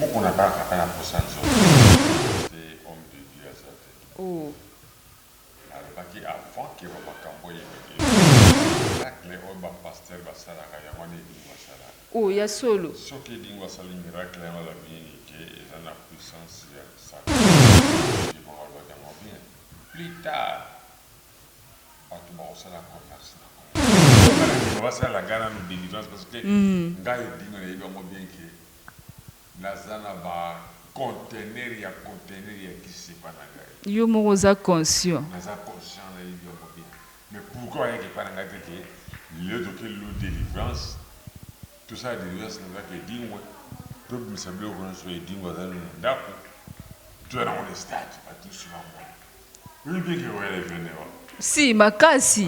Buku na baka ata na posa nzoto Moise te homme de Dieu aza te nalobaki avant que ba makambo oyo ebele miracle oyo ba pasteur basalaka yango wana edingwe asalaka soki edingwe asali miracle yango eza mieni que eza na puissance ya satana je crois alobaki yango bien plus tard batu bakosala commerce na congo. Ngai na ndima basala ngai nanu delivrance parce que ngai edingwe nayebi yango bien que Naza na ba containers ya containers ya kisi epa na ngai. Yo moko oza conscient. Naza conscient na yebi yango bien mais pourquoi oyaki epa na ngai te ke lelo toke lelo delivrance tosala delivrance na ndako ya edingwe to bimisa biloko nionso edingwe aza nanu na ndako toya nango na stade batu nionso ba mona. Si, makasi.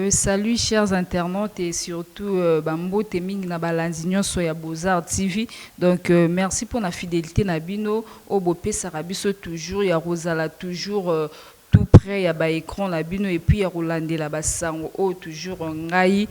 Salut chers internautes et surtout ba mbote mingi na balandi nionso ya beaux arts TV donc merci pona fidelite na bino oyo bopesaka biso toujours ya kozala toujours tout près ya ba ecrans na bino et puis ya kolandela ba sango oyo toujours ngai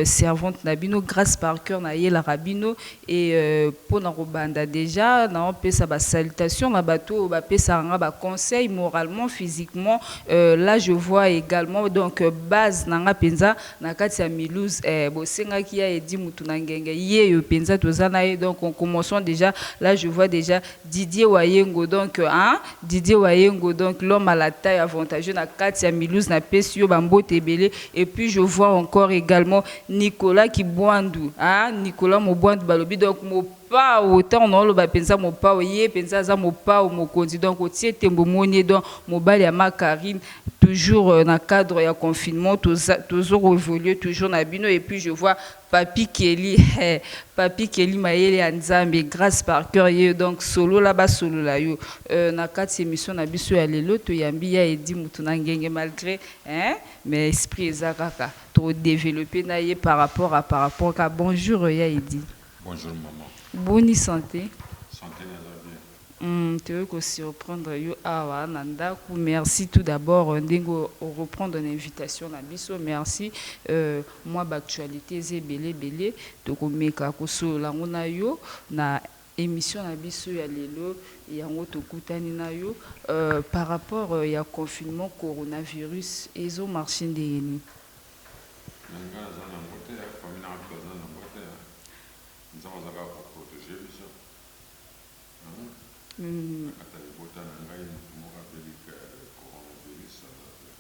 servante na bino Grace par coeur na yelaka bino et pona kobanda dejà nao pesa ba salutations na batu oyo ba pesaka nga ba conseils moralement, physiquement là je vois egalement donc base na nga penza na kati ya Mulhouse eh bosengaki ya Eddy mutu na ngenge yeyo penza toza na ye donc en commençant dejà là je vois dejà Didier Wayengo donc hein Didier Wayengo donc l'homme à la taille avantageux na kati ya Mulhouse na pesi yo ba mbote ebele et puis je vois encore egalement Nicolas Kibuandu hein Nicolas Mobuandu balobi donc Mopao tango na oloba penza Mopao ye penza aza Mopao mokonzi donc otie tembe omoni ye donc mobali ya ma Carine toujours na cadre ya confinement toza tozo evoluer toujours na bino et puis je vois Papy Kelly hee papy Kelly mayele ya nzambe grace par cœur yeyo donc solola ba solola yo euh na kati emission na biso ya lelo to yambi ya Eddy mutu na ngenge malgre hein mais esprit eza kaka toko developpe na ye par rapport à par rapport ka bonjour ya Eddy. Bonjour maman. Boni sante? Sante naza bien. Hum toye ko surprendre yo awa na ndaku merci tout d'abord ndenge o reprendre na invitation na biso merci mua ba actualite eza ebele ebele toko meka ko solola yango na yo na emission na biso ya lelo yango tokutani na yo par rapport ya confinement coronavirus ezo marche ndenge nini? Mais nga naza na yango te famille nanga tout baza na yango te nzambe aza kaka ko proteger biso.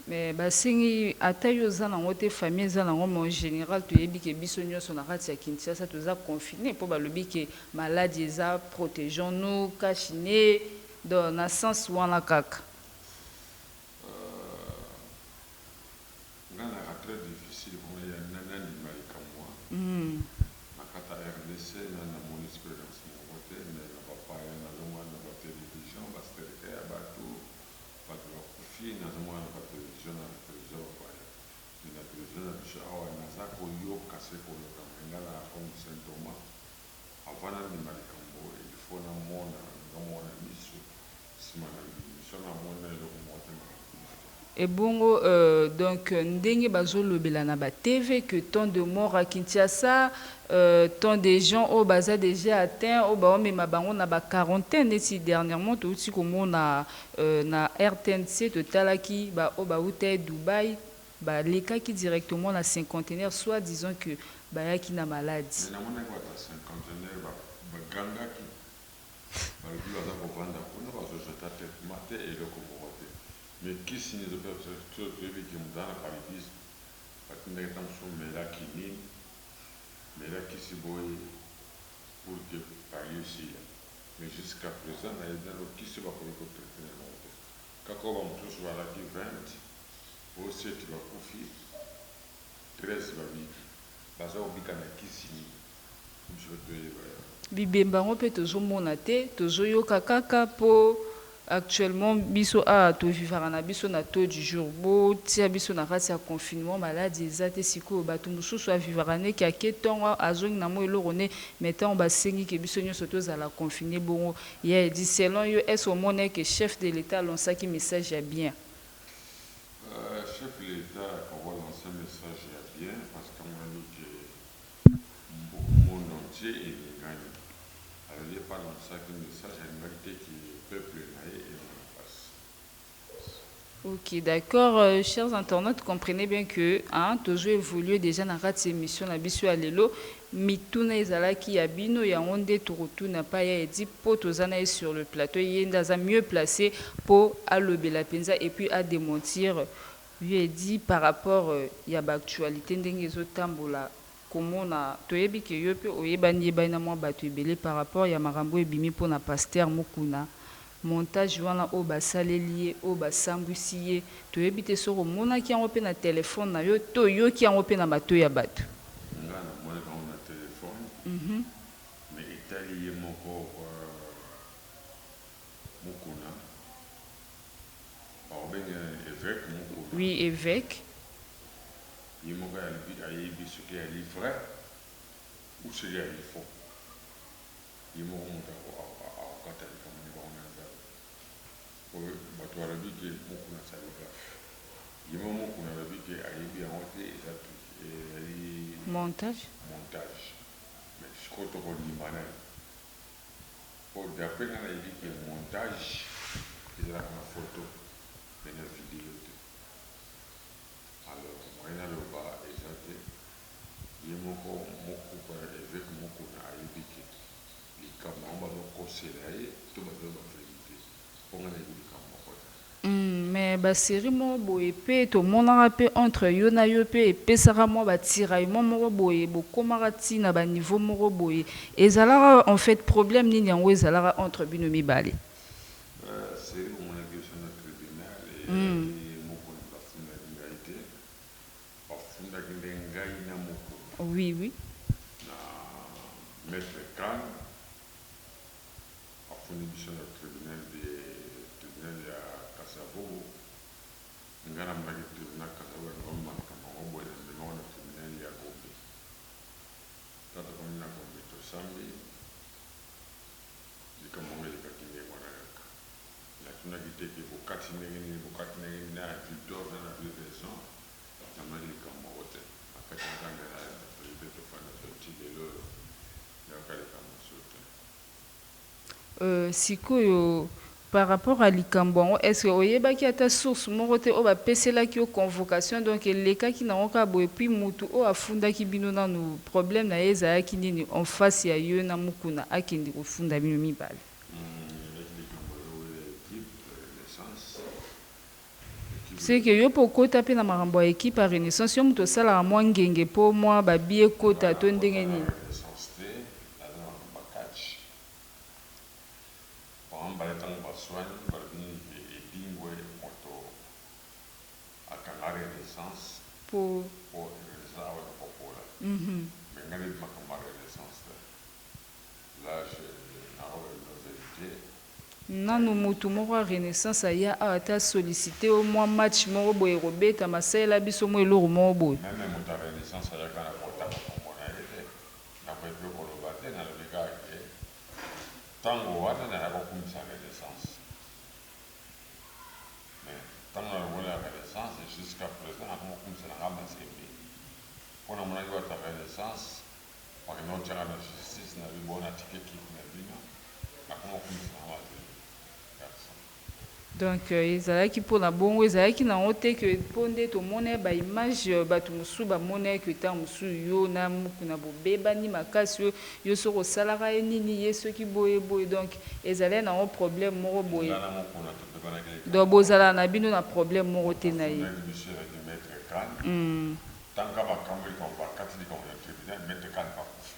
Mais basengi ata yo oza nango te famille eza nango mais en general toyebi ke biso nionso na kati ya Kinshasa toza confine po balobi ke maladi eza protegeons nous cash ne donc na sens wana kaka. Nga naka tres difficile pona ya nani andima likamua na kata rdc nani na moni experience moko te mais na ba paya na zo mona na ba television ba sterke ya batu batu ba kufi na zo mona na ba television na television ya ba paya mais na television na biso awa na za ko yoka se ko yoka mais nga naka comme saint Thomas avant na ndima likambo il faut na mona nga moko na misu Sima na nini? Soki na moni na eloko moko te makambo ekoma bien. Ebongo euh donc ndenge bazo lobela na ba TV que tant de morts à Kinshasa euh tant des gens oyo baza dejà atteint oyo bao mema bango na ba quarantaines neti dernièrement towuti komona euh na rtnc totalaki ba oyo bawutaki Dubaï ba lekaki directement na cinquantenaire soit disant que bayaki na malade. Mais na monaki batu ya cinquantenaire ba gangaki. Balobi baza kovanda kuna bazo jeta traitement te eloko moko te mais kisi nini ezo pesa biso soki toyebi ke mutu aza na paludisme batindaki ata mosusu mela kinin mela kisi boye pour ke palu esila mais jusqu'à present nayebi nanu kisi oyo bakoki ko traite na yango te kaka oyo ba mosusu balaki 20 oyo 7 bakufi 13 babiki baza kobika na kisi nini? Bibemba yango pe tozo mona te tozo yoka kaka po actuellement biso awa to vivaka na biso na taux du jour bo tia biso na kati ya confinement maladi eza te sikoyo batu mususu a vivaka ne ke ake tongo azongi na mua eloko ne mais tango ba sengi ke biso nionso to zala confine bongo ya edi selon yo est ce omona ke chef de l'etat a lancaki message ya bien? Chef de l'etat ako lancer message ya bien parce que amoni ke. monde entier eningani alors ye pa lançaki message alingaki te que peuple na ye emona pasi pasi. Ok d'accord chers internautes comprenez bien que hein tozo evoluer dejà na kati ya emission na biso ya lelo mituna ezalaki ya bino yango nde toko tuna pa ya Eddy po toza na ye sur le plateau ye nde aza mieux place po alobela penza et puis a dementir Vieux Eddy par rapport ya ba actualites ndenge ezo tambola komona toyebi que yo pe oyebani yebani na mwa batu ebele par rapport ya makambo oyo ebimi pona Pasteur Mukuna montage wana oyo ba saleli ye oyo ba sambwisi ye toyebi te soki omonaki yango pe na telephone na yo to oyoki yango pe na matoyi ya batu. Nga na monaki yango na telephone mais etali ye moko quoi. Mukuna bakobenge nani eveque mukuna. Oui eveque. Ye moko alobi ayebi soki ali vrai ou soki ali faux ye moko mutu akokata likambo na bango na nzambe po batu balobi ke mukuna asali gaffe ye moko mukuna alobi ke ayebi yango te eza ezali montage mais sikoyo toko ndima nani? po d'après nga nayebi que montage ezalaka na photo mais na video te alors moyen naloba eza te ye moko mukuna eveque mukuna ayebi que likambo yango bazo kosela ye to bazo loba verite. Mpo nga nayebi likambo moko te. Hum mais ba serie moko boye pe tomonaka pe entre yo na yo pe epesaka mua ba tiraillement moko boye bokomaka ti na ba niveau moko boye ezalaka en fait problème nini yango ezalaka entre bino mibale? Ba serie omonaki yo sur na tribunal eyaki moko na bafundaki ngai te bafundaki nde ngai na moko Oui oui. na maitre Khan. afuni biso na tribunal de tribunal ya kasavubu nga na monaki tribunal kasavubu na ndima makambo yango boye na mema ngo na tribunal ya gombe tango tokomi na gombe tosambi likambo yango elekaki ndenge wana kaka natunaki te ke bokati ndenge nini bokati ndenge nini na avis d'or na na avis raison Nakangamaki likambo moko te. Na kati na kanda ya President Tofanda Toye tii lelo oyo, nayokaka likambo mosusu te. Euh, sikoyo par rapport ya likambo yango, est-ce que oyebaki ata source moko te oyo bapeselaki yo convocation? Donc elekaki nango kaka boye? Puis mutu oyo afundaki bino nanu problème na ye ezalaki nini en face ya yo na Mukuna akende kofunda bino mibale? Hum, ezalaki likambo ya wele Deep Renaissance. Seke yo pe okota pe na makambo ya equipe ya renaissance yo mutu osalaka mwa ngenge po mwa ba billets ekota to ndenge nini? Nanu mutu moko ya renaissance aya awa te a sollicite yo mwa match moko boye ekobetama salela biso mwa eloko moko boye. Meme moto ya renaissance ayaka na kotanga kombo na ye te nakoki pe koloba te nalobi kaka ke tango wana naya kokumisa renaissance mais tango na longoli na renaissance jusqu'à present nakomi kokumisa na nga mazembe po namonaki batu ya renaissance Pona nini otiaka na justice na yo bona tika equipe na bino na congo akumisa na ngo aza ye garçon. Donc ezalaki pona bongo ezalaki na ngo te que po nde tomona ba image batu mosusu ba mona que tango mosusu yo na mukuna bo bebani makasi oyo yo soki osalaka ye nini ye soki boye boye donc ezalai na ngo problème moko boye Nga na mukuna to bebanaki likambu donc moko bozalaka na bino na problème moko te na ye. afundaki biso elandi maitre khan. Tanga makambo likambo bakati likambo lya tribunal maitre khan akufi.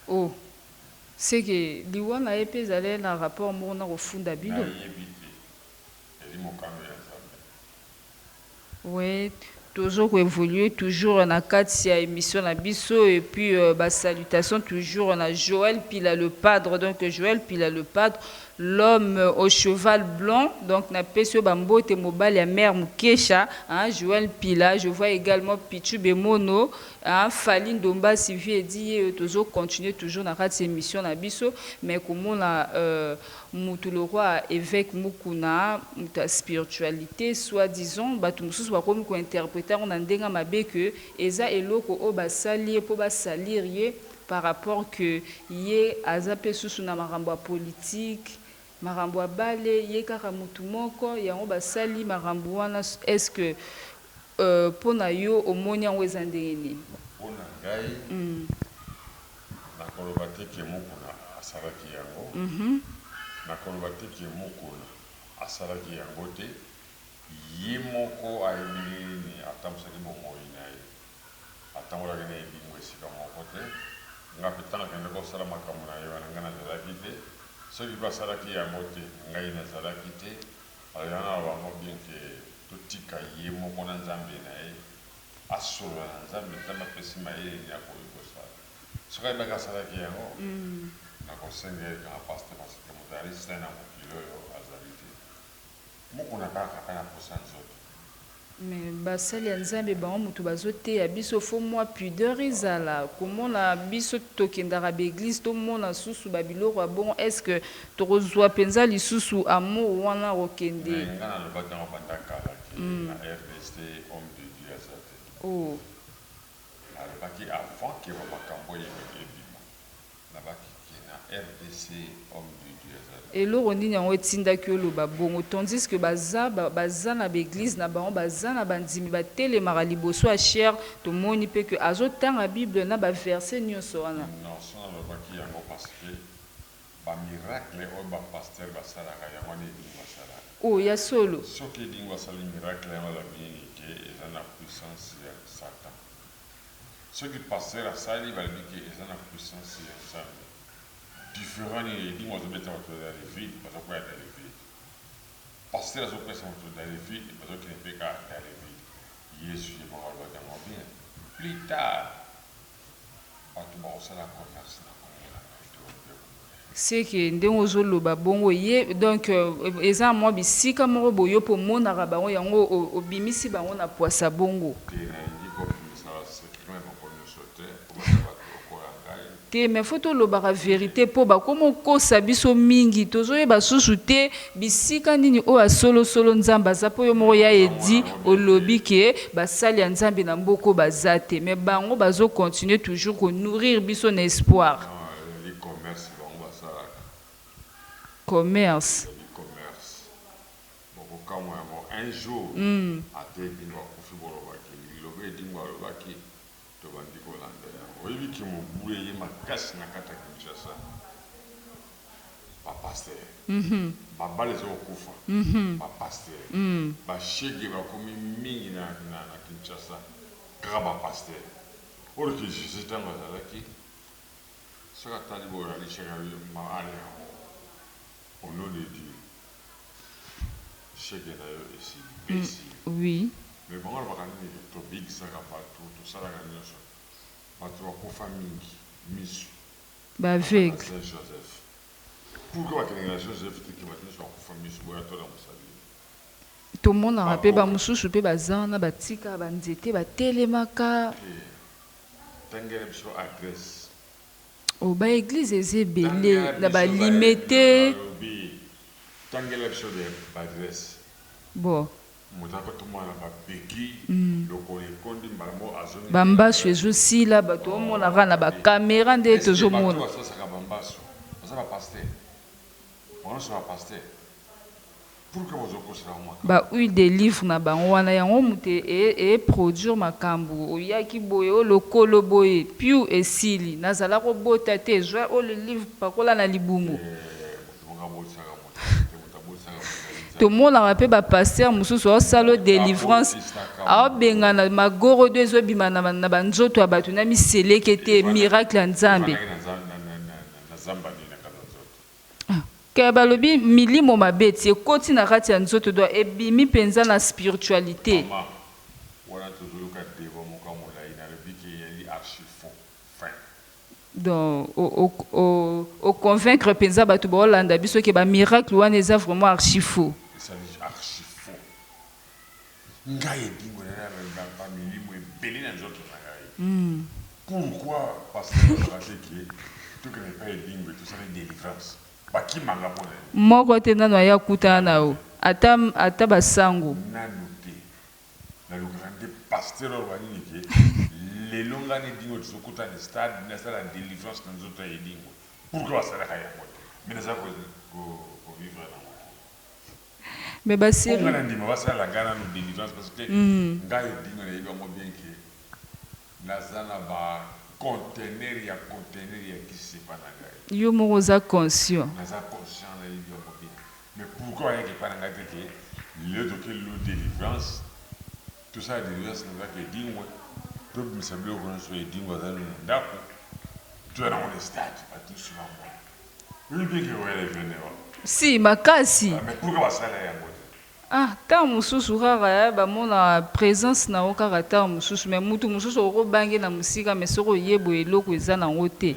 Oh ce que liwa na ye pe ezaleli na rapport moko na kofunda bino? Na yebi te. Ezali mokano ya Nzambe. Oui tozo ko evoluer toujours na kati ya emission na biso et puis ba salutations toujours na Joël Pila le padre donc Joël Pila le padre L'homme au cheval blanc donc na pesi yo ba mbote mobali ya mère mukesha hein Joël mpila je vois egalement pitshou bemono hein Fally ndombasi vieux dit yeyo tozo continuer toujours na kati emission na biso mais komona euh mutu lokwa eveque mukuna mutu ya spiritualite soit disant batu mususu bakomi ko interpreter yango na ndenge ya mabe que eza eloko oyo basali ye po ba salir ye par rapport que ye aza pe susu na makambo ya politique makambo ya bale ye kaka mutu moko yango basali makambo wana est ce que pona yo omoni yango eza ndenge nini? Pona ngai nakoloba te que mukuna asalaki yango nakoloba te que mukuna asalaki yango te ye moko ayebi ndenge nini atambusaki bomoyi naye. Atambolaki na elimo esika moko te. Ngai mpe, ntango akendaki kosala makambo na ye wana, ngai nazalaki te. Soki mpe asalaki yango te, ngai nazalaki te. Alors, yango naloba yango bien que totika ye moko na Nzambe na ye, asolola na Nzambe, Nzambe apesi mayele nini akoki kosala. Soki ayebaki asalaki yango, nakosenga ye kaka Pasteur, parce que moto ya risque na ye na mokili oyo azali te. Moko na ba kaka na posa nzoto. Mais basali ya nzambe bango mutu bazo teya biso faut mua pudeur ezala komona biso tokendaka ba eglise tomona susu ba biloko ya bongo est ce que toko zua penza lisusu amour wana kokende Mais nga na lobaki yango banda kala ke na rdc homme de Dieu aza te. Ooh. Na lobaki avant ke ba makambu oyo ebima. Nabaki que na rdc homme de Dieu azali. Eloko nini yango etindaki yo oloba bongo tandis que baza baza na ba eglise na bango baza na bandimi batelemaka liboso ya chaire tomoni pe que azo tanga bible na ba verse nionso wana. Non soki nalobaki yango parce que ba miracle oyo ba pasteur basalaka yango wana edingwe asalaka. Oh ya solo? Soki edingwe asali miracle yango elabi nini que eza na puissance ya satan. soki pasteur asali balobi ke eza na puissance ya nzambe different nini edingwe azo beta batu dans le vide bazo kweya dans le vide pasteur azo pesa batu dans le vide bazo kende pe kaka dans le vide yezu ye moko alobaki yango bien plus tard batu bako sala commerce na kombo na ngai to ce que ndenge ozo loba bongo ye donc eza na mwa bisika moko boye yo pe omonaka bango yango obimisi bango na puasa bongo. Te nalingi ko bimisaka secret na moko nioso te po baza batu lokola ngai. Te mais faut tolobaka verite po bakoma okosa biso mingi tozo yeba susu te bisika nini oyo ya solo solo nzambe aza po yo moko ya Eddy olobi que basali ya nzambe na mboka oyo baza te mais bango bazo continuer toujours ko nourrir biso na espoir Ezali commerce bango basalaka. Commerce. Ezali commerce. Boko kamwa yango un jour ata edingwe akufi boloba ke liloba edingwe alobaki tobandi kolanda yango. Oyebi ke mobulu eye makasi na kati ya Kinshasa. Ba pasteurs. Ba bala ezo kokufa. Ba pasteurs. Ba shegue bakomi mingi na Kinshasa kaka ba pasteurs. Or ke Jesus tango azalaki. Soki atali boye alishaka ma ale yango au nom de Dieu chege nayo esili pe esili mais bango alobaka nini ke tobigisaka batu tosalaka nioso batu bakufa mingi misu baza na saint Joseph pourquoi bakendeke na Joseph te ke batu nioso bakufa misu boya tolamusa bino tomonaka pe ba mususu pe baza wana batika ba nzete batelemaka. Tangela biso adresse. Oh ba eglise eza ebele na ba limete. Tangela biso ba adresse. Bon. Moto ako tumbola na ba bequilles lokolo ekondi mbala moko azongi. Ba mbasu ezo sila bato o mona kaka na ba camera nde tozo mona. Est ce que bato ba sosaka ba mbasu baza ba pasteurs? Bango nionso ba pasteurs? Ba huile de livre na bango wana yango mutu e produire makambu oyaki boye o lokolo boye piu esili na zala ko bota te zua huile livre pakola na libumu. Tomonaka pe ba pasteur mususu ao salo delivrance ao bengana magorodo ezo bima na ba nzoto ya batu na miselekete miracle ya nzambe. Kaya balobi milimo mabe ti ekoti na kati ya nzoto doit ebimi penza na spiritualite. Maman wana tozo yoka debat moko ya molayi na lobi ke eyali archi faux fin. Donc o convaincre penza batu bao landa biso ke ba miracles wana eza vraiment archi faux. Ezali archi faux Ngai edingwe na ngai na ba milimo ebele na nzoto na ngai pourquoi pasteur alobaka te que tokende epai edingwe tosala delivrance bakima nga pona nini? Moko te nanu aya kutana na yo ata ata ba sango. Nanu te nalukaka nde pasteur aloba nini que lelo ngai na edingwe tozo kutana na stade nasala delivrance na nzoto ya edingwe pourquoi basalaka yango te mais naza ko vivre na yango te. Mais ba serie. Po nga na ndima ba salela nga nanu delivrance parce que nga edingwe na yebi yango bien que na za na ba contenaire ya contenaire ya ki sepa na ngai. Yo moko oza conscient. Na za conscient na yebi yango bien mais pourquoi ba yaka epai na ngai te que lelo to ke lelo delivrance to sala delivrance na ndako ya edingwe to bimisa biloko nionso edingwe aza nanu na ndako to ya nango na stade batu nionso ba mona. Si makasi ah tango mosusu kaka eh, ba mona presence na yo kaka tango mosusu mais mutu mosusu okoki obanga ye na mosika mais soki oye boye eloko eza na yango te.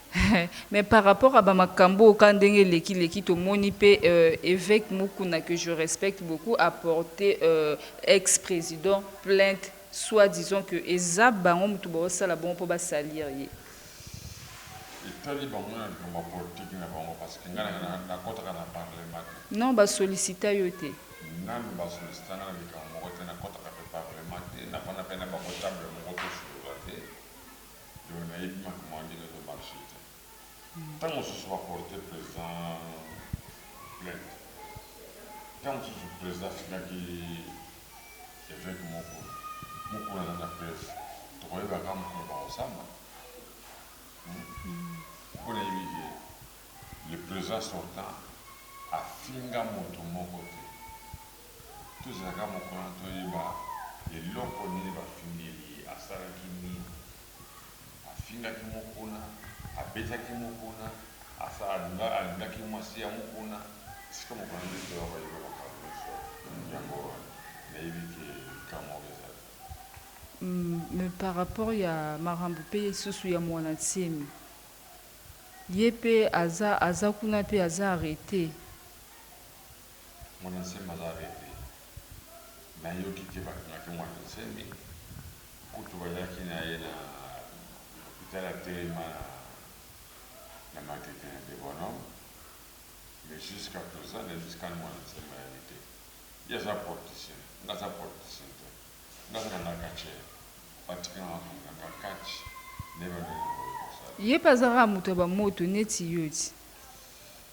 Mais par rapport à ba makambu oyo ka ndenge eleki leki tomoni pe eveque Mukuna que je respecte beaucoup a porte ex president plainte soit disant que eza bango mutu bazo sala bongo po ba salir ye. Etali bango na likambo ya politique na bango parce que nga na kotaka na parlement te. Non ba sollicita yo te. Nanu ba sollicita nga na likambo moko te na kotaka pe parlement te na fanda pe na bango table moko to solola te. Yo nayebi makambo wana ndenge ezo marche te tango mosusu ba porte president plainte tango mosusu president asengaki eveque moko mukuna aza na preuve tokoyeba kaka mokolo bakosamba hum po nayebi ke le president sortant afinga mutu moko te. Tozela kaka mokolo toyeba eloko nini bafingeli ye asalaki nini afingaki mukuna abetaki mukuna asala alingaki mwasi ya mukuna esika mokolo nde toya koyeba makambo nioso yango nayebi ke likambo moko ezali. Me par rapport ya makambo pe lisusu ya muana nsemi ye pe aza aza kuna pe aza arrete. Muana nsemi aza reve nayoki te bakangaki muana nsemi kutu bayaki naye na hopital atelema na matete na debonom mais jusqu'à present nayebi kani muana nsemi bayebi te ye aza porticien nga aza porticien te nga aza nanga catcheur batika nga na kanga nga catch nayeba ndenge nakoki kosala. Ye pe azalaka mutu ya ba moto neti yo ti.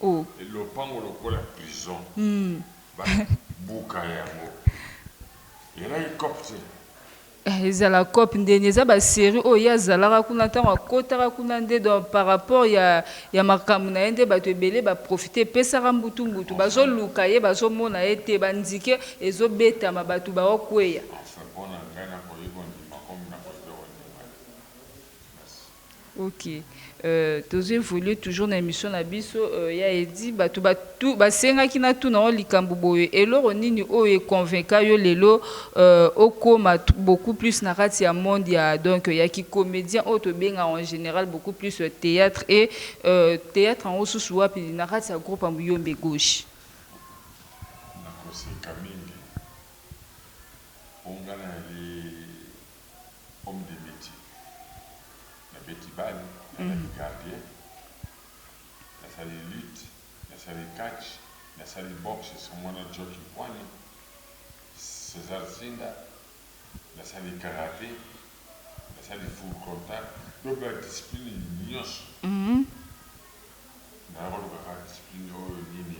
oh. Et lopango lokola prison ba buka yango ezalaki coop te. Eh ezala coop nde nini eza ba serie oyo ye azalaka kuna tango akotaka kuna nde donc par rapport ya ya makambu na ye nde batu ebele ba profite epesaka mbutu mbutu bazo luka ye bazo mona ye te ba nzike ezo betama batu bao kweya. Enfin pona ngai nako ki kondima comme nako ki kondima te. Merci. Ok tozo evoluer toujours na emission na biso ya Eddy batu ba tu basengaki na tuna yo likambo boye eloko nini oyo e convainca yo lelo okoma beaucoup plus na kati ya monde ya donc ya ki comedien oyo tobengaka en general beaucoup plus theatre et theatre yango susu wapi na kati ya groupe ya muyombe gauche? Nakoseka mingi po nga nali Comme des metiers na beti balle, nazalaki gardien, nasali lutte, nasali catch, nasali boxe sur muana Jockey Mpuane, Cesar Sinda, nasali karate, nasali full contact donc ba discipline nionso naya koluka kaka discipline oyo nini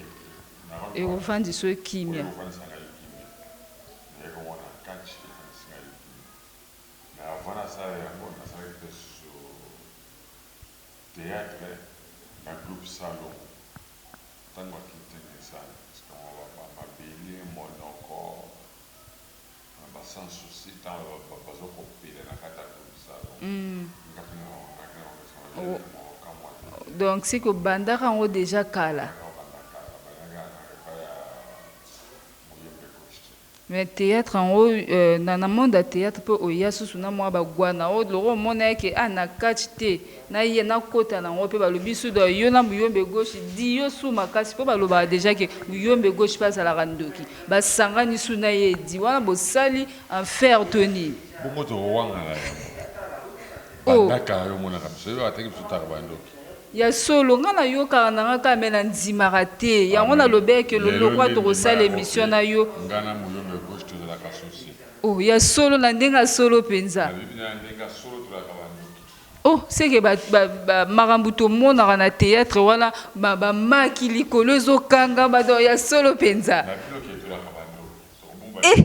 ekofandisa yo kimia. Mais avant na sala yango na salaki pe susu theatre na groupe Salongo tangu ba quitte Nissan parce que mawa ba mabele, monoko na ba sans soucis tangu bazo ko pela na kati ya groupe Salongo nga pe na longaki na bango sans jamais na mua ko kamua te. Donc ce que obandaka yango dejà kala? Nabandaka kala, nabandaki kala na epai ya Muyembe Coste. Mais theatre yango na na monde ya theatre pe oya susu na mua ba gua na yo lokola omona ye ke ah na catch te na ya na kota na ngo pe balobi sudo yo na muyombe gauche dio su makasi po balobaka deja ke muyombe gauche pe azalaka ndoki ba sangani su na ye di wana bosali enfer to nini. Bongo ozo wangana yango? Bandaka yo omonaka biso yo atake biso taka ba ndoki. Ya solo nga na yokaka na nga kaka mais na ndimaka te yango na lobela que lolokwa toko sala emission na yo oh ya solo na ndenge ya solo penza. Oh ce que ba makambu to monaka na theatre wana ba maki likolo ezo kanga ba ya solo penza. Eh!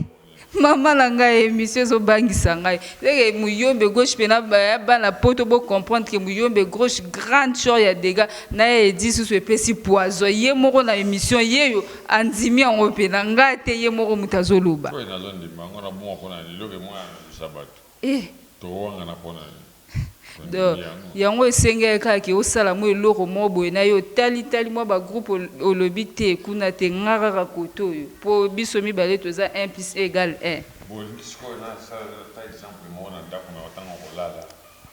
Maman na ngai emission ezo bangisa ngai. Leke muyombe gauche pe na baya bana poto bo comprendre que muyombe gauche grand chor ya dega na ye edi susu epesi poison ye moko na emission yeyo andimi yango pe na ngai te ye moko mutu azo loba. Oyo nazo ndima yango na bungwa pona nini leke moya na lisa batu. Ehh. To wangana po na nini? To ndimi yango. Yango esengeli kaka ke osala mwa eloko moko boye na yo otali tali mwa ba groupe olobi te kuna te nga kaka kote oyo po biso mibale toza un plus un egale un. Bo lingi sikoyo na sala ata exemple moko na ndaku na yo tangu oko lala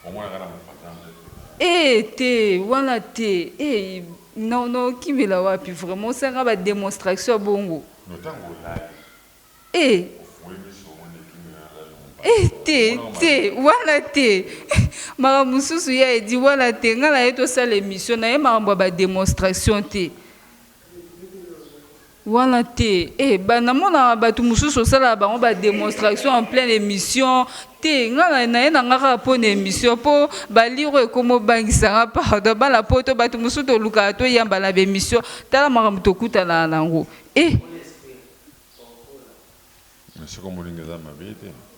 omonaka na mopanza nde to na. Ehh te wana te ehh non non okimela wapi vraiment osala nga ba demonstraction bongo. Non tangu olali. Eh eh te te wana te makambo mosusu ya edi wana te nga naye tosala emission naye makambo ya ba demonstration te wana te eh ba namonaka bato mosusu osalaka bango ba demonstration en pleine emission te nga naye na nga kaka mpo na emission mpo ba lire oyo ekoma obangisa nga pardon bana poto bato mosusu tolukaka toyamba na ba emission tala makambo tokutanaka na yango eh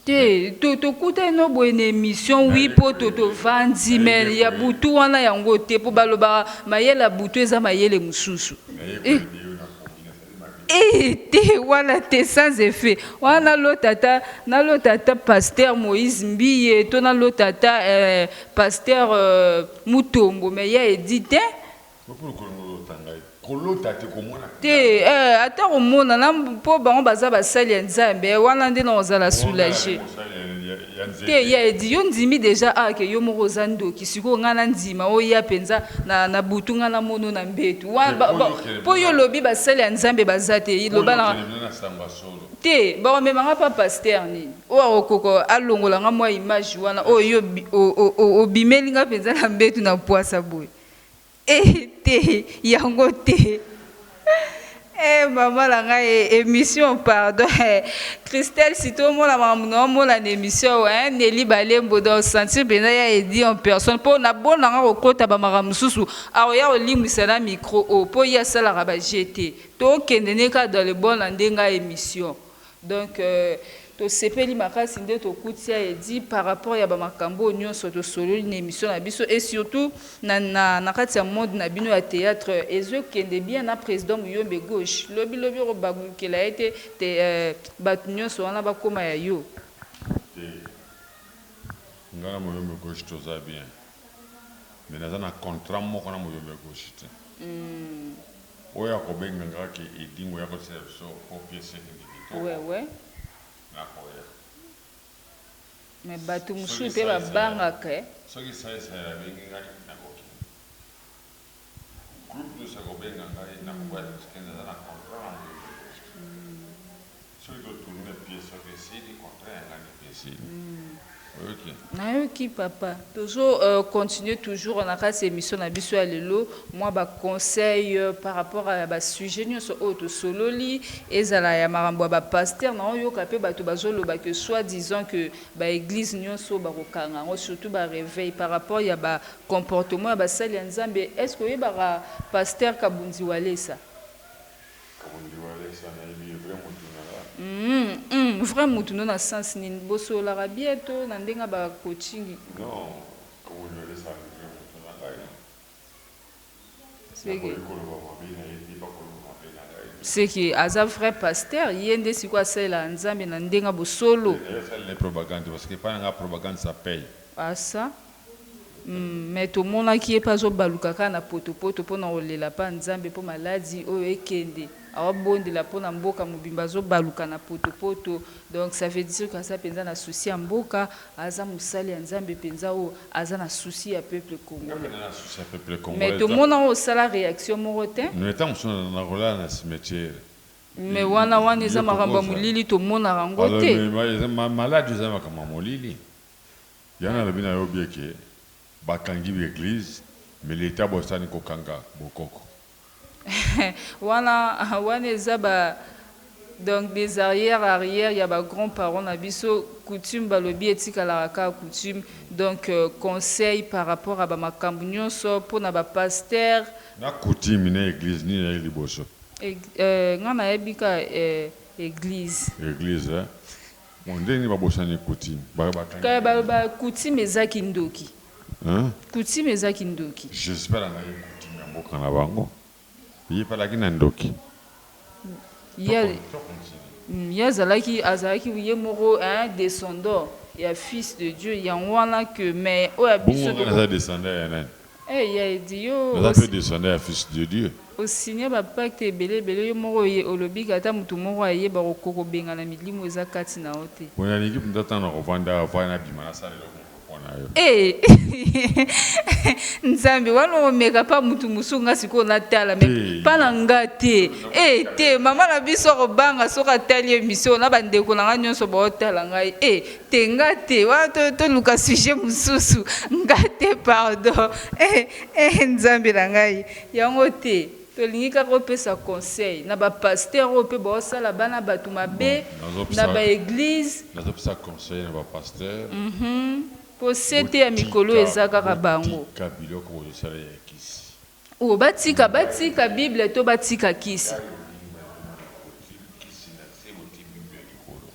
Te to tokutani no boye na emission oui po to tovandi mais ya butu wana yango te po balobaka mayele ya butu eza mayele mosusu eh, eh te wana te sans effet wana nalota ata nalota ata pasteur Moïse Mbiye to nalota ata eh, pasteur euh, Mutombo mais ya Edith te Te eh ata komona na po bango baza basali ya nzambe eh wana nde nao zala soulage te ya edi yo ndimi deja ah ke yo moko oza ndoki sikoyo nga na ndima oya penza na na butu nga na mono na mbetu wana po yo lobi basali ya nzambe baza te loba na te bako mema nga pa pasteur nini oyo akokoka alongola nga mwa image wana oyo yo obimeli nga penza na mbetu na puasa boye Eh te yango te eh maman na ngai eh, emission pardon eh, Christelle si to mona makambo na omona na emission wa eh, Nelly Balembo donc sentir benda ya Eddy en personne po na bon na nga ko kota ba makambo mosusu ako ya ko limwisa na micro oyo po ye asalaka ba jeux te to kende ne ka dans le bon na nde nga emission Donc tosepeli makasi nde tokuti ya Eddy par rapport ya ba makambo oyo nionso tosololi na emission na biso et surtout na kati ya monde na bino ya theatre ezo kende bien na president Muyombe gauche lobi lobi oko bagukela ye te te batu nionso wana bakoma ya yo. Te nga na Muyombe gauche toza bien. mais naza na contrat moko na muyombe ya gauche te oyo ako benga nga ke edingwe yako tiela biso po piece ekende kitoko nakoya soki sai sai abengi ngai nako kende. Groupe dos akobenga ngai nakoboya puisque naza na contrat na Maison de poste. Soki to tourner pièce soki esili contrat ya ngai nde pe esili. Oyoki? Nayoki papa. Tozo continuer toujours na kati ya emission na biso ya lelo mua ba conseils par rapport ya ba sujets nionso oyo tosololi ezala ya makambo ya ba pasteurs naoyoka pe batu bazoloba que soit disant que ba eglises nionso bakokanga yango surtout ba reveils par rapport ya ba Comportement ya basali ya nzambe est ce que oyebaka pasteur kabunzi walesa? Kabundi walesa nayebi ye vrai mutu na nga. Humm vrai mutu no na sens nini? Bosololaka bien to na ndenge ya ba coaching? Non kabundi walesa aza vrai mutu na ngai. Nakoki koloba mabe na ye te, bakoloba mabe na ngai te. Ce que aza vrai pasteur, ye nde sikoyo asalelaka Nzambe na ndenge ya bosolo. Te, naye asalela ye propagande parce que epai na ngai propagande ça paye. Ah ça? Hum, mais tomonaki ye pe azobaluka kaka na potopoto pona kolela epai ya Nzambe po maladi oyo ekende. Awa bondela pona mboka mobimba azo baluka na poto poto donc ça veut dire que aza penza na souci ya mboka aza mosali ya nzambe penza oyo aza na souci ya peuple congolais mais tomona yo osala reaction moko te mais wana wana eza makambo ya molili tomonaka yango te. wana wana eza ba donc des arrière arrière ya ba grand parents na biso coutume balobi etikalaka kaka coutume donc conseil par rapport ya ba makambu nionso pona ba pasteur Na coutume na eglise nini eyaki liboso? Nga nayebi kaka eglise. Eglise eh. Bon ndenge ba bosani coutume ba ba kangi Kala bango. baloba coutume eza kindoki. Hein? Coutume eza kindoki. J'espère angayi coutume ya mboka na bango. Ye pe alaki na ndoki. Ye To a to continue. Hum ye azalaki azalaki ye moko hein descendant ya fils de Dieu yango wana que mais oyo ya Bongo biso ngai toko. naza descendant ya nani? Eh ya eddy yo Naza pe descendant ya fils de Dieu. o signer ba pacte ebele ebele yo moko oye olobike ata mutu moko ayeba ko kokobengana milimo eza kati na yo te. Pona niki penza tango nako vanda awa fallait na bima na sala eloko moko pona yo. Eeh nzambe wana oko meka pa mutu mosusu nga sikoyo na tala mais pa na nga te eeh te maman na biso ako banga soki atali emission oyo na ba ndeko na nga nionso bao tala ngai eeh. te nga te wana toluka sujet mosusu nga te pardon eh, eh, nzambe na ngai yango te tolingi kaka opesa conseil na bapaster oyo mpe baosala bana bato mabe na baeglize nazopesa conseil na bapaster mpo mhm. sete ya mikolo eza kaka bango biloko bozosala ya kisi oyo batika batika bible to batika kisi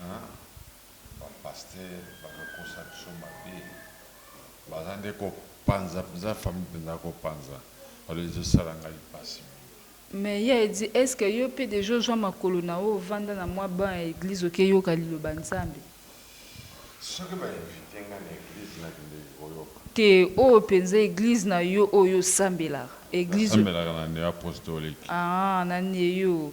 Hum ba pasteur bazo kosa biso mabe baza nde ko panza penza famille penza ko panza alors ezo sala ngai pasi mingi. Mais ya Eddy est ce que yo pe dejà ozua makolo na yo ovanda na mwa banc ya eglise oke yoka liloba nzambe? Soki ba invite nga na eglise na kendeki ko yoka. Te oyo penza eglise na yo oyo yo sambelaka? Eglise oyo. Na sambelaka na neo apostolique. Aah na neo.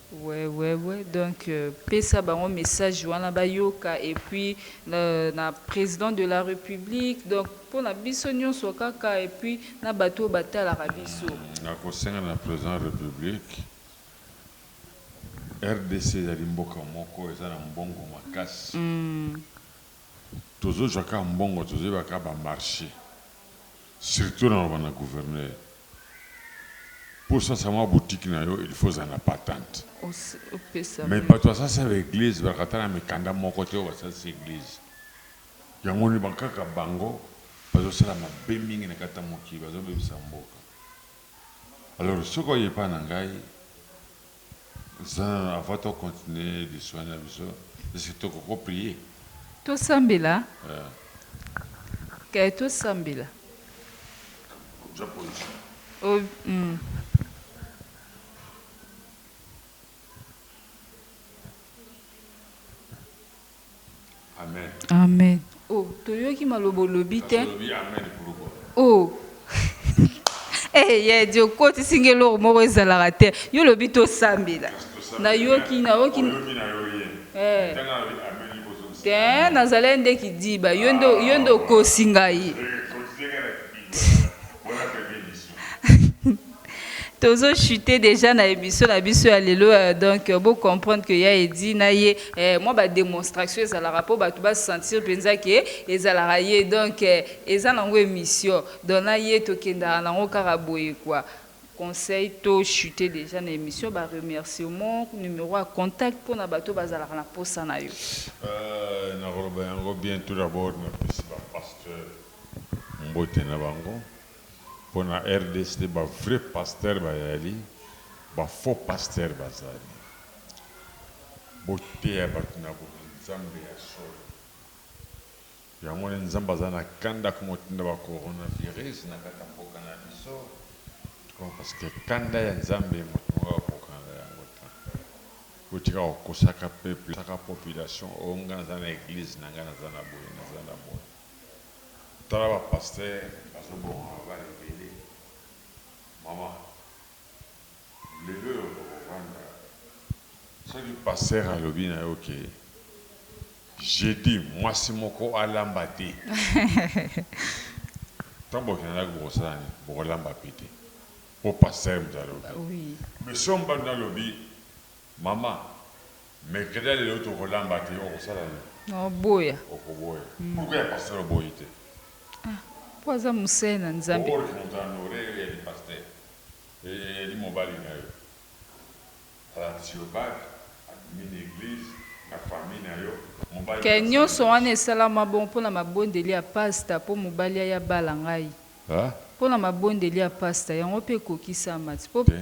Wewewe donc pesa bango message wana bayoka et puis na president de la republique donc pona biso nionso kaka et puis na batu oyo batalaka biso. Nakosenga na president republique rdc ezali mboka moko eza na mbongo makasi tozozwa kaka mbongo tozoyeba kaka ba marche. surtout na loba na gouverneur pour sasa mwa boutique na yo il faut ozala na patente mais batu basasa ba eglise bazalaka ata na mikanda moko te oyo basalisi eglise yango nde kaka bango bazosala mabe mingi na kati ya mokili bazobebisa mboka alors soki oye epai na ngai Nzambe avant to continuer lisolo na biso est ce que toko ko prier? Tosambela eh tosambela. Zwa position. O hum. Amen. Amen. Oh, toyoki maloba olobi te. Oh. Eh, ye di okotisi nge eloko moko ezalaka te. Yo olobi tosambela. Nayoki, nayoki. Eh. Te, nazalaki nde kidiba. Yo nde yo nde okosi ngai. Tozo chute dejà na emission na biso ya lelo euh, donc euh, bo comprendre que ya Eddy na ye eh, mwa ba demonstration ezalaka po bato ba sentir penza que ezalaka ye donc eh, eza nango emission donc na ye tokendaka nango kaka boye quoi. conseil to chute dejà na emission ba remerciement numero ya contact pona bato bazalaka na posa na yo. Euh, nakoloba yango bien tout d'abord napesi ba pasteur mbote na bango. pona rdc te ba vrai pasteur bayali ba faux pasteur bazali boteya batu na boye nzambe ya solo yango nde nzambe aza na kanda komotinda ba corona virus na kati ya mboka na biso tukua paske kanda ya nzambe moto moko akokana na yango te botika kokosaka peuple saka population o nga naza na eglise na nga naza na boye naza na boye Tala ba pasteur bazo boma mabala ebele maman leloyo toko vanda soki pasteur alobi nayo ke jeudi mwasi moko alamba te tango bokenda ndaku bokosala nini boko lamba pe te po pasteur mutu alobi mais soki mobali nayo alobi maman Mais keda lelo toko lamba te oko sala nini? Na boya. Oko boya. Pourquoi ya pasteur oboyi te? Ah po aza musee na nzambe. Boork moto a nore yo eyali pasteur eyali mobali na yo alakisi yo bague abimi na eglise na famille na yo mobali na Ken asali nionso wana nini? esalama bongo po na mabondeli ya pasta po mobali aya bala ngai Hein? po na mabondeli ya pasta yango pe ekokisama ti po Te.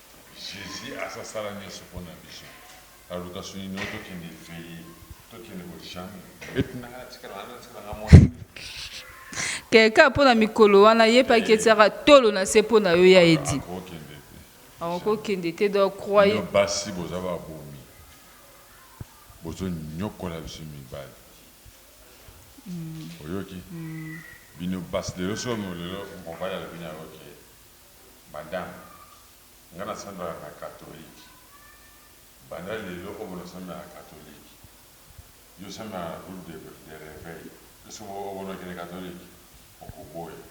Jesus aza sala nioso pona biso na luka soni no to kende veye to kende ko jamais beti na nga tika na nga tika na nga mwana Quelqu'un mpo na mikolo wana ayepaki etiaka tolo na se mpo na yo ya edi akokende te do croye basi boza babomi bozonyokola biso mibali hmm. oyoki hmm. bino basi lelo somo lelo mobali alobi na yo ke Madame, nga na sambelaka na catholique banda lelo obo na sambela na catholique yo sambela na groupe de reveil est-ce que obo na kende catholique oko boya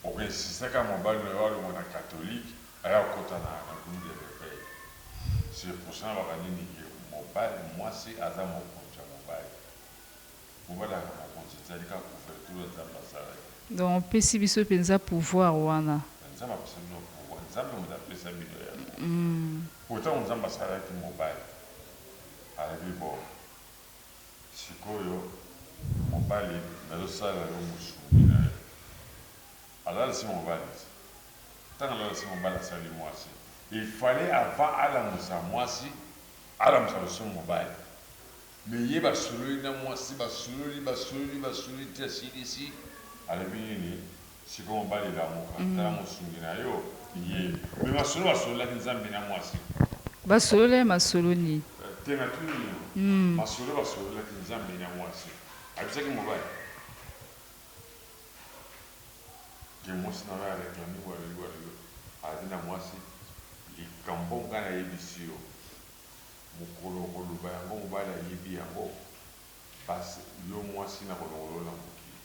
oko insista kaka mobali na yo alongwa na catholique aya kokota na groupe de reveil c'est pour ça na loka nini que mobali mwasi aza mokonzi ya mobali. Kobalana na mokonzi ezali kaka couverture oyo Nzambe asalaki. Donc opesi biso penza pouvoir wana. Nzambe apesa bino pouvoir? Nzambe moto apesa bino yango po tango Nzambe asalaki mobali alobi bon sikoyo mobali nazo sala yo mosungi na yo alalisi mobali te tango alalisi mobali asali mwasi il fallait avant alamusa mwasi alamusa lisusu mobali. Mais ye basololi na mwasi basololi basololi basololi ti asilisi alobi nini sikoyo mobali lamuka tala mosungi na yo ye mais masolo basololaki nzambe na mwasi Basololaki masolo nini? Te natuni yo masolo basololaki nzambe na mwasi ayebisaki mobali ke mwasi na yo a reclame boye alobi boye alobi boye alobi na mwasi likambo nga nayebisi yo Mokolo okoloba yango mobali ayebi yango pasi yo mwasi nako longola yo na mokili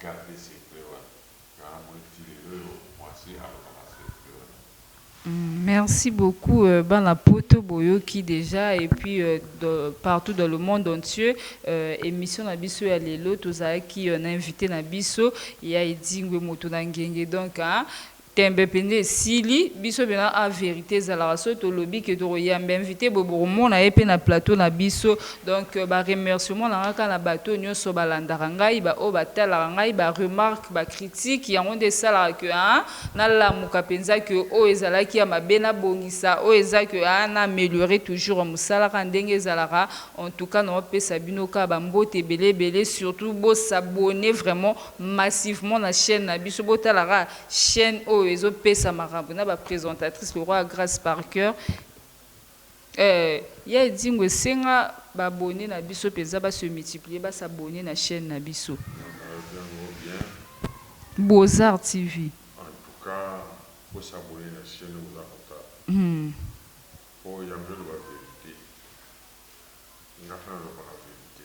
garde secret wana nga na moni ti lelo oyo mwasi alobaka secret wana. Merci beaucoup bana poto boyoki dejà et puis partout dans le monde entieux emission na biso ya lelo tozalaki na invite na biso ya Edingwe moto na ngenge donc Tembe penza esili biso pena a verite ezalaka soki tolobi que toko yamba invite boye boko mona ye pe na plateau na biso donc ba remerciement na nga kaka na batu oyo nioso ba landaka ngai ba oyo ba talaka ngai ba remarque ba critique yango nde esalaka que haa na lamuka penza que oyo ezalaki ya mabe na bongisa oyo eza que haa na ameliorer toujours musala kaka ndenge ezalaka en tout cas nao pesa bino kaka ba mbote ebele ebele surtout bo s'abonner vraiment massivement na chaine na biso bo tala kaka Chaine oyo ezo pesa makambu na ba presentatrice lokola grace par cœur euh ya edingwe esenga ba abonne na biso penza ba se multiplier ba s'abonner na chaine na biso. Beauzart TV. En tout cas bo s'abonner na chaine oyo boza kotala po yango ezo loba verite nga pe na lobaka verite.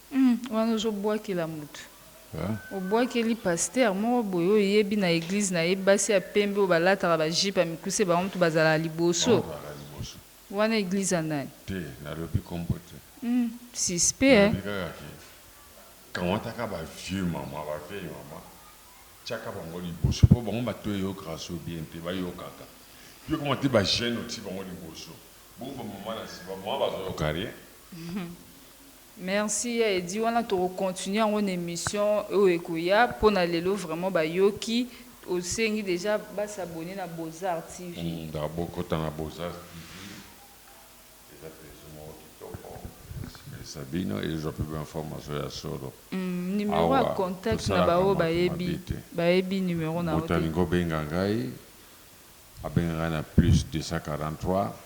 Hum wana ozo buakela mutu obuakeli pasteur moko boye oyo yebi na eglise na ye basi ya pembe oyo ba lataka ba jupe ya mikuse bango mutu bazalaka liboso wana eglise ya nani te na lobi kombo te hum suspect hein na lobi kaka ke kamataka ba vieux maman ba vieille maman tiaka bango liboso po bango batu eyokaka so bien te ba yokaka yo koma te ba jeune otie bango liboso bongo ba maman na sima ba maman bazo yoka rien Merci ya Eddy wana toko continuer yango na emission oyo ekoya pona lelo vraiment ba yoki osengi dejà ba s'abonner na Beaux-Arts TV. Ba bokota na Beaux-Arts TV eza plaisir moko kitoko na sepelisa bino et ezwa pe ba informations ya solo. Numero ya contact na ba oyo bayebi bayebi numero na yo te. Moto alingi obenga ngai abenga ngai na plus 243.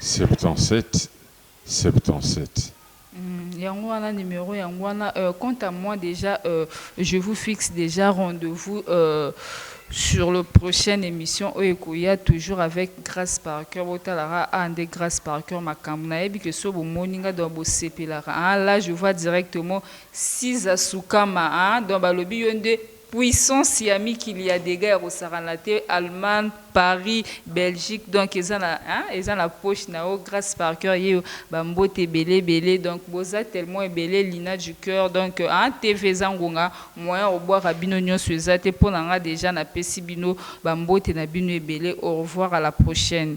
77 77. Hum yango wana numero yango wana euh, quant à moi dejà euh, je vous fixe dejà rendez-vous euh, sur le prochaine émission oyo ekoya toujours avec Grace par cœur botalaka ah nde Grace par cœur makambo nayebi que so bomoni nga donc bosepelaka ah là je vois directement Siza Sukama ah donc balobi yo nde Puissance ya mikili ya degat ya kosakana te Allemagne Paris Belgique donc eza na hein eza na poche na yo Grace par coeur yeyo ba mbote ebele ebele donc boza tellement ebele Lina du coeur donc hein TV eza ngonga moyen ya kobwaka bino nionso eza te pona nga dejà na pesi bino ba mbote na bino ebele au revoir à la prochaine.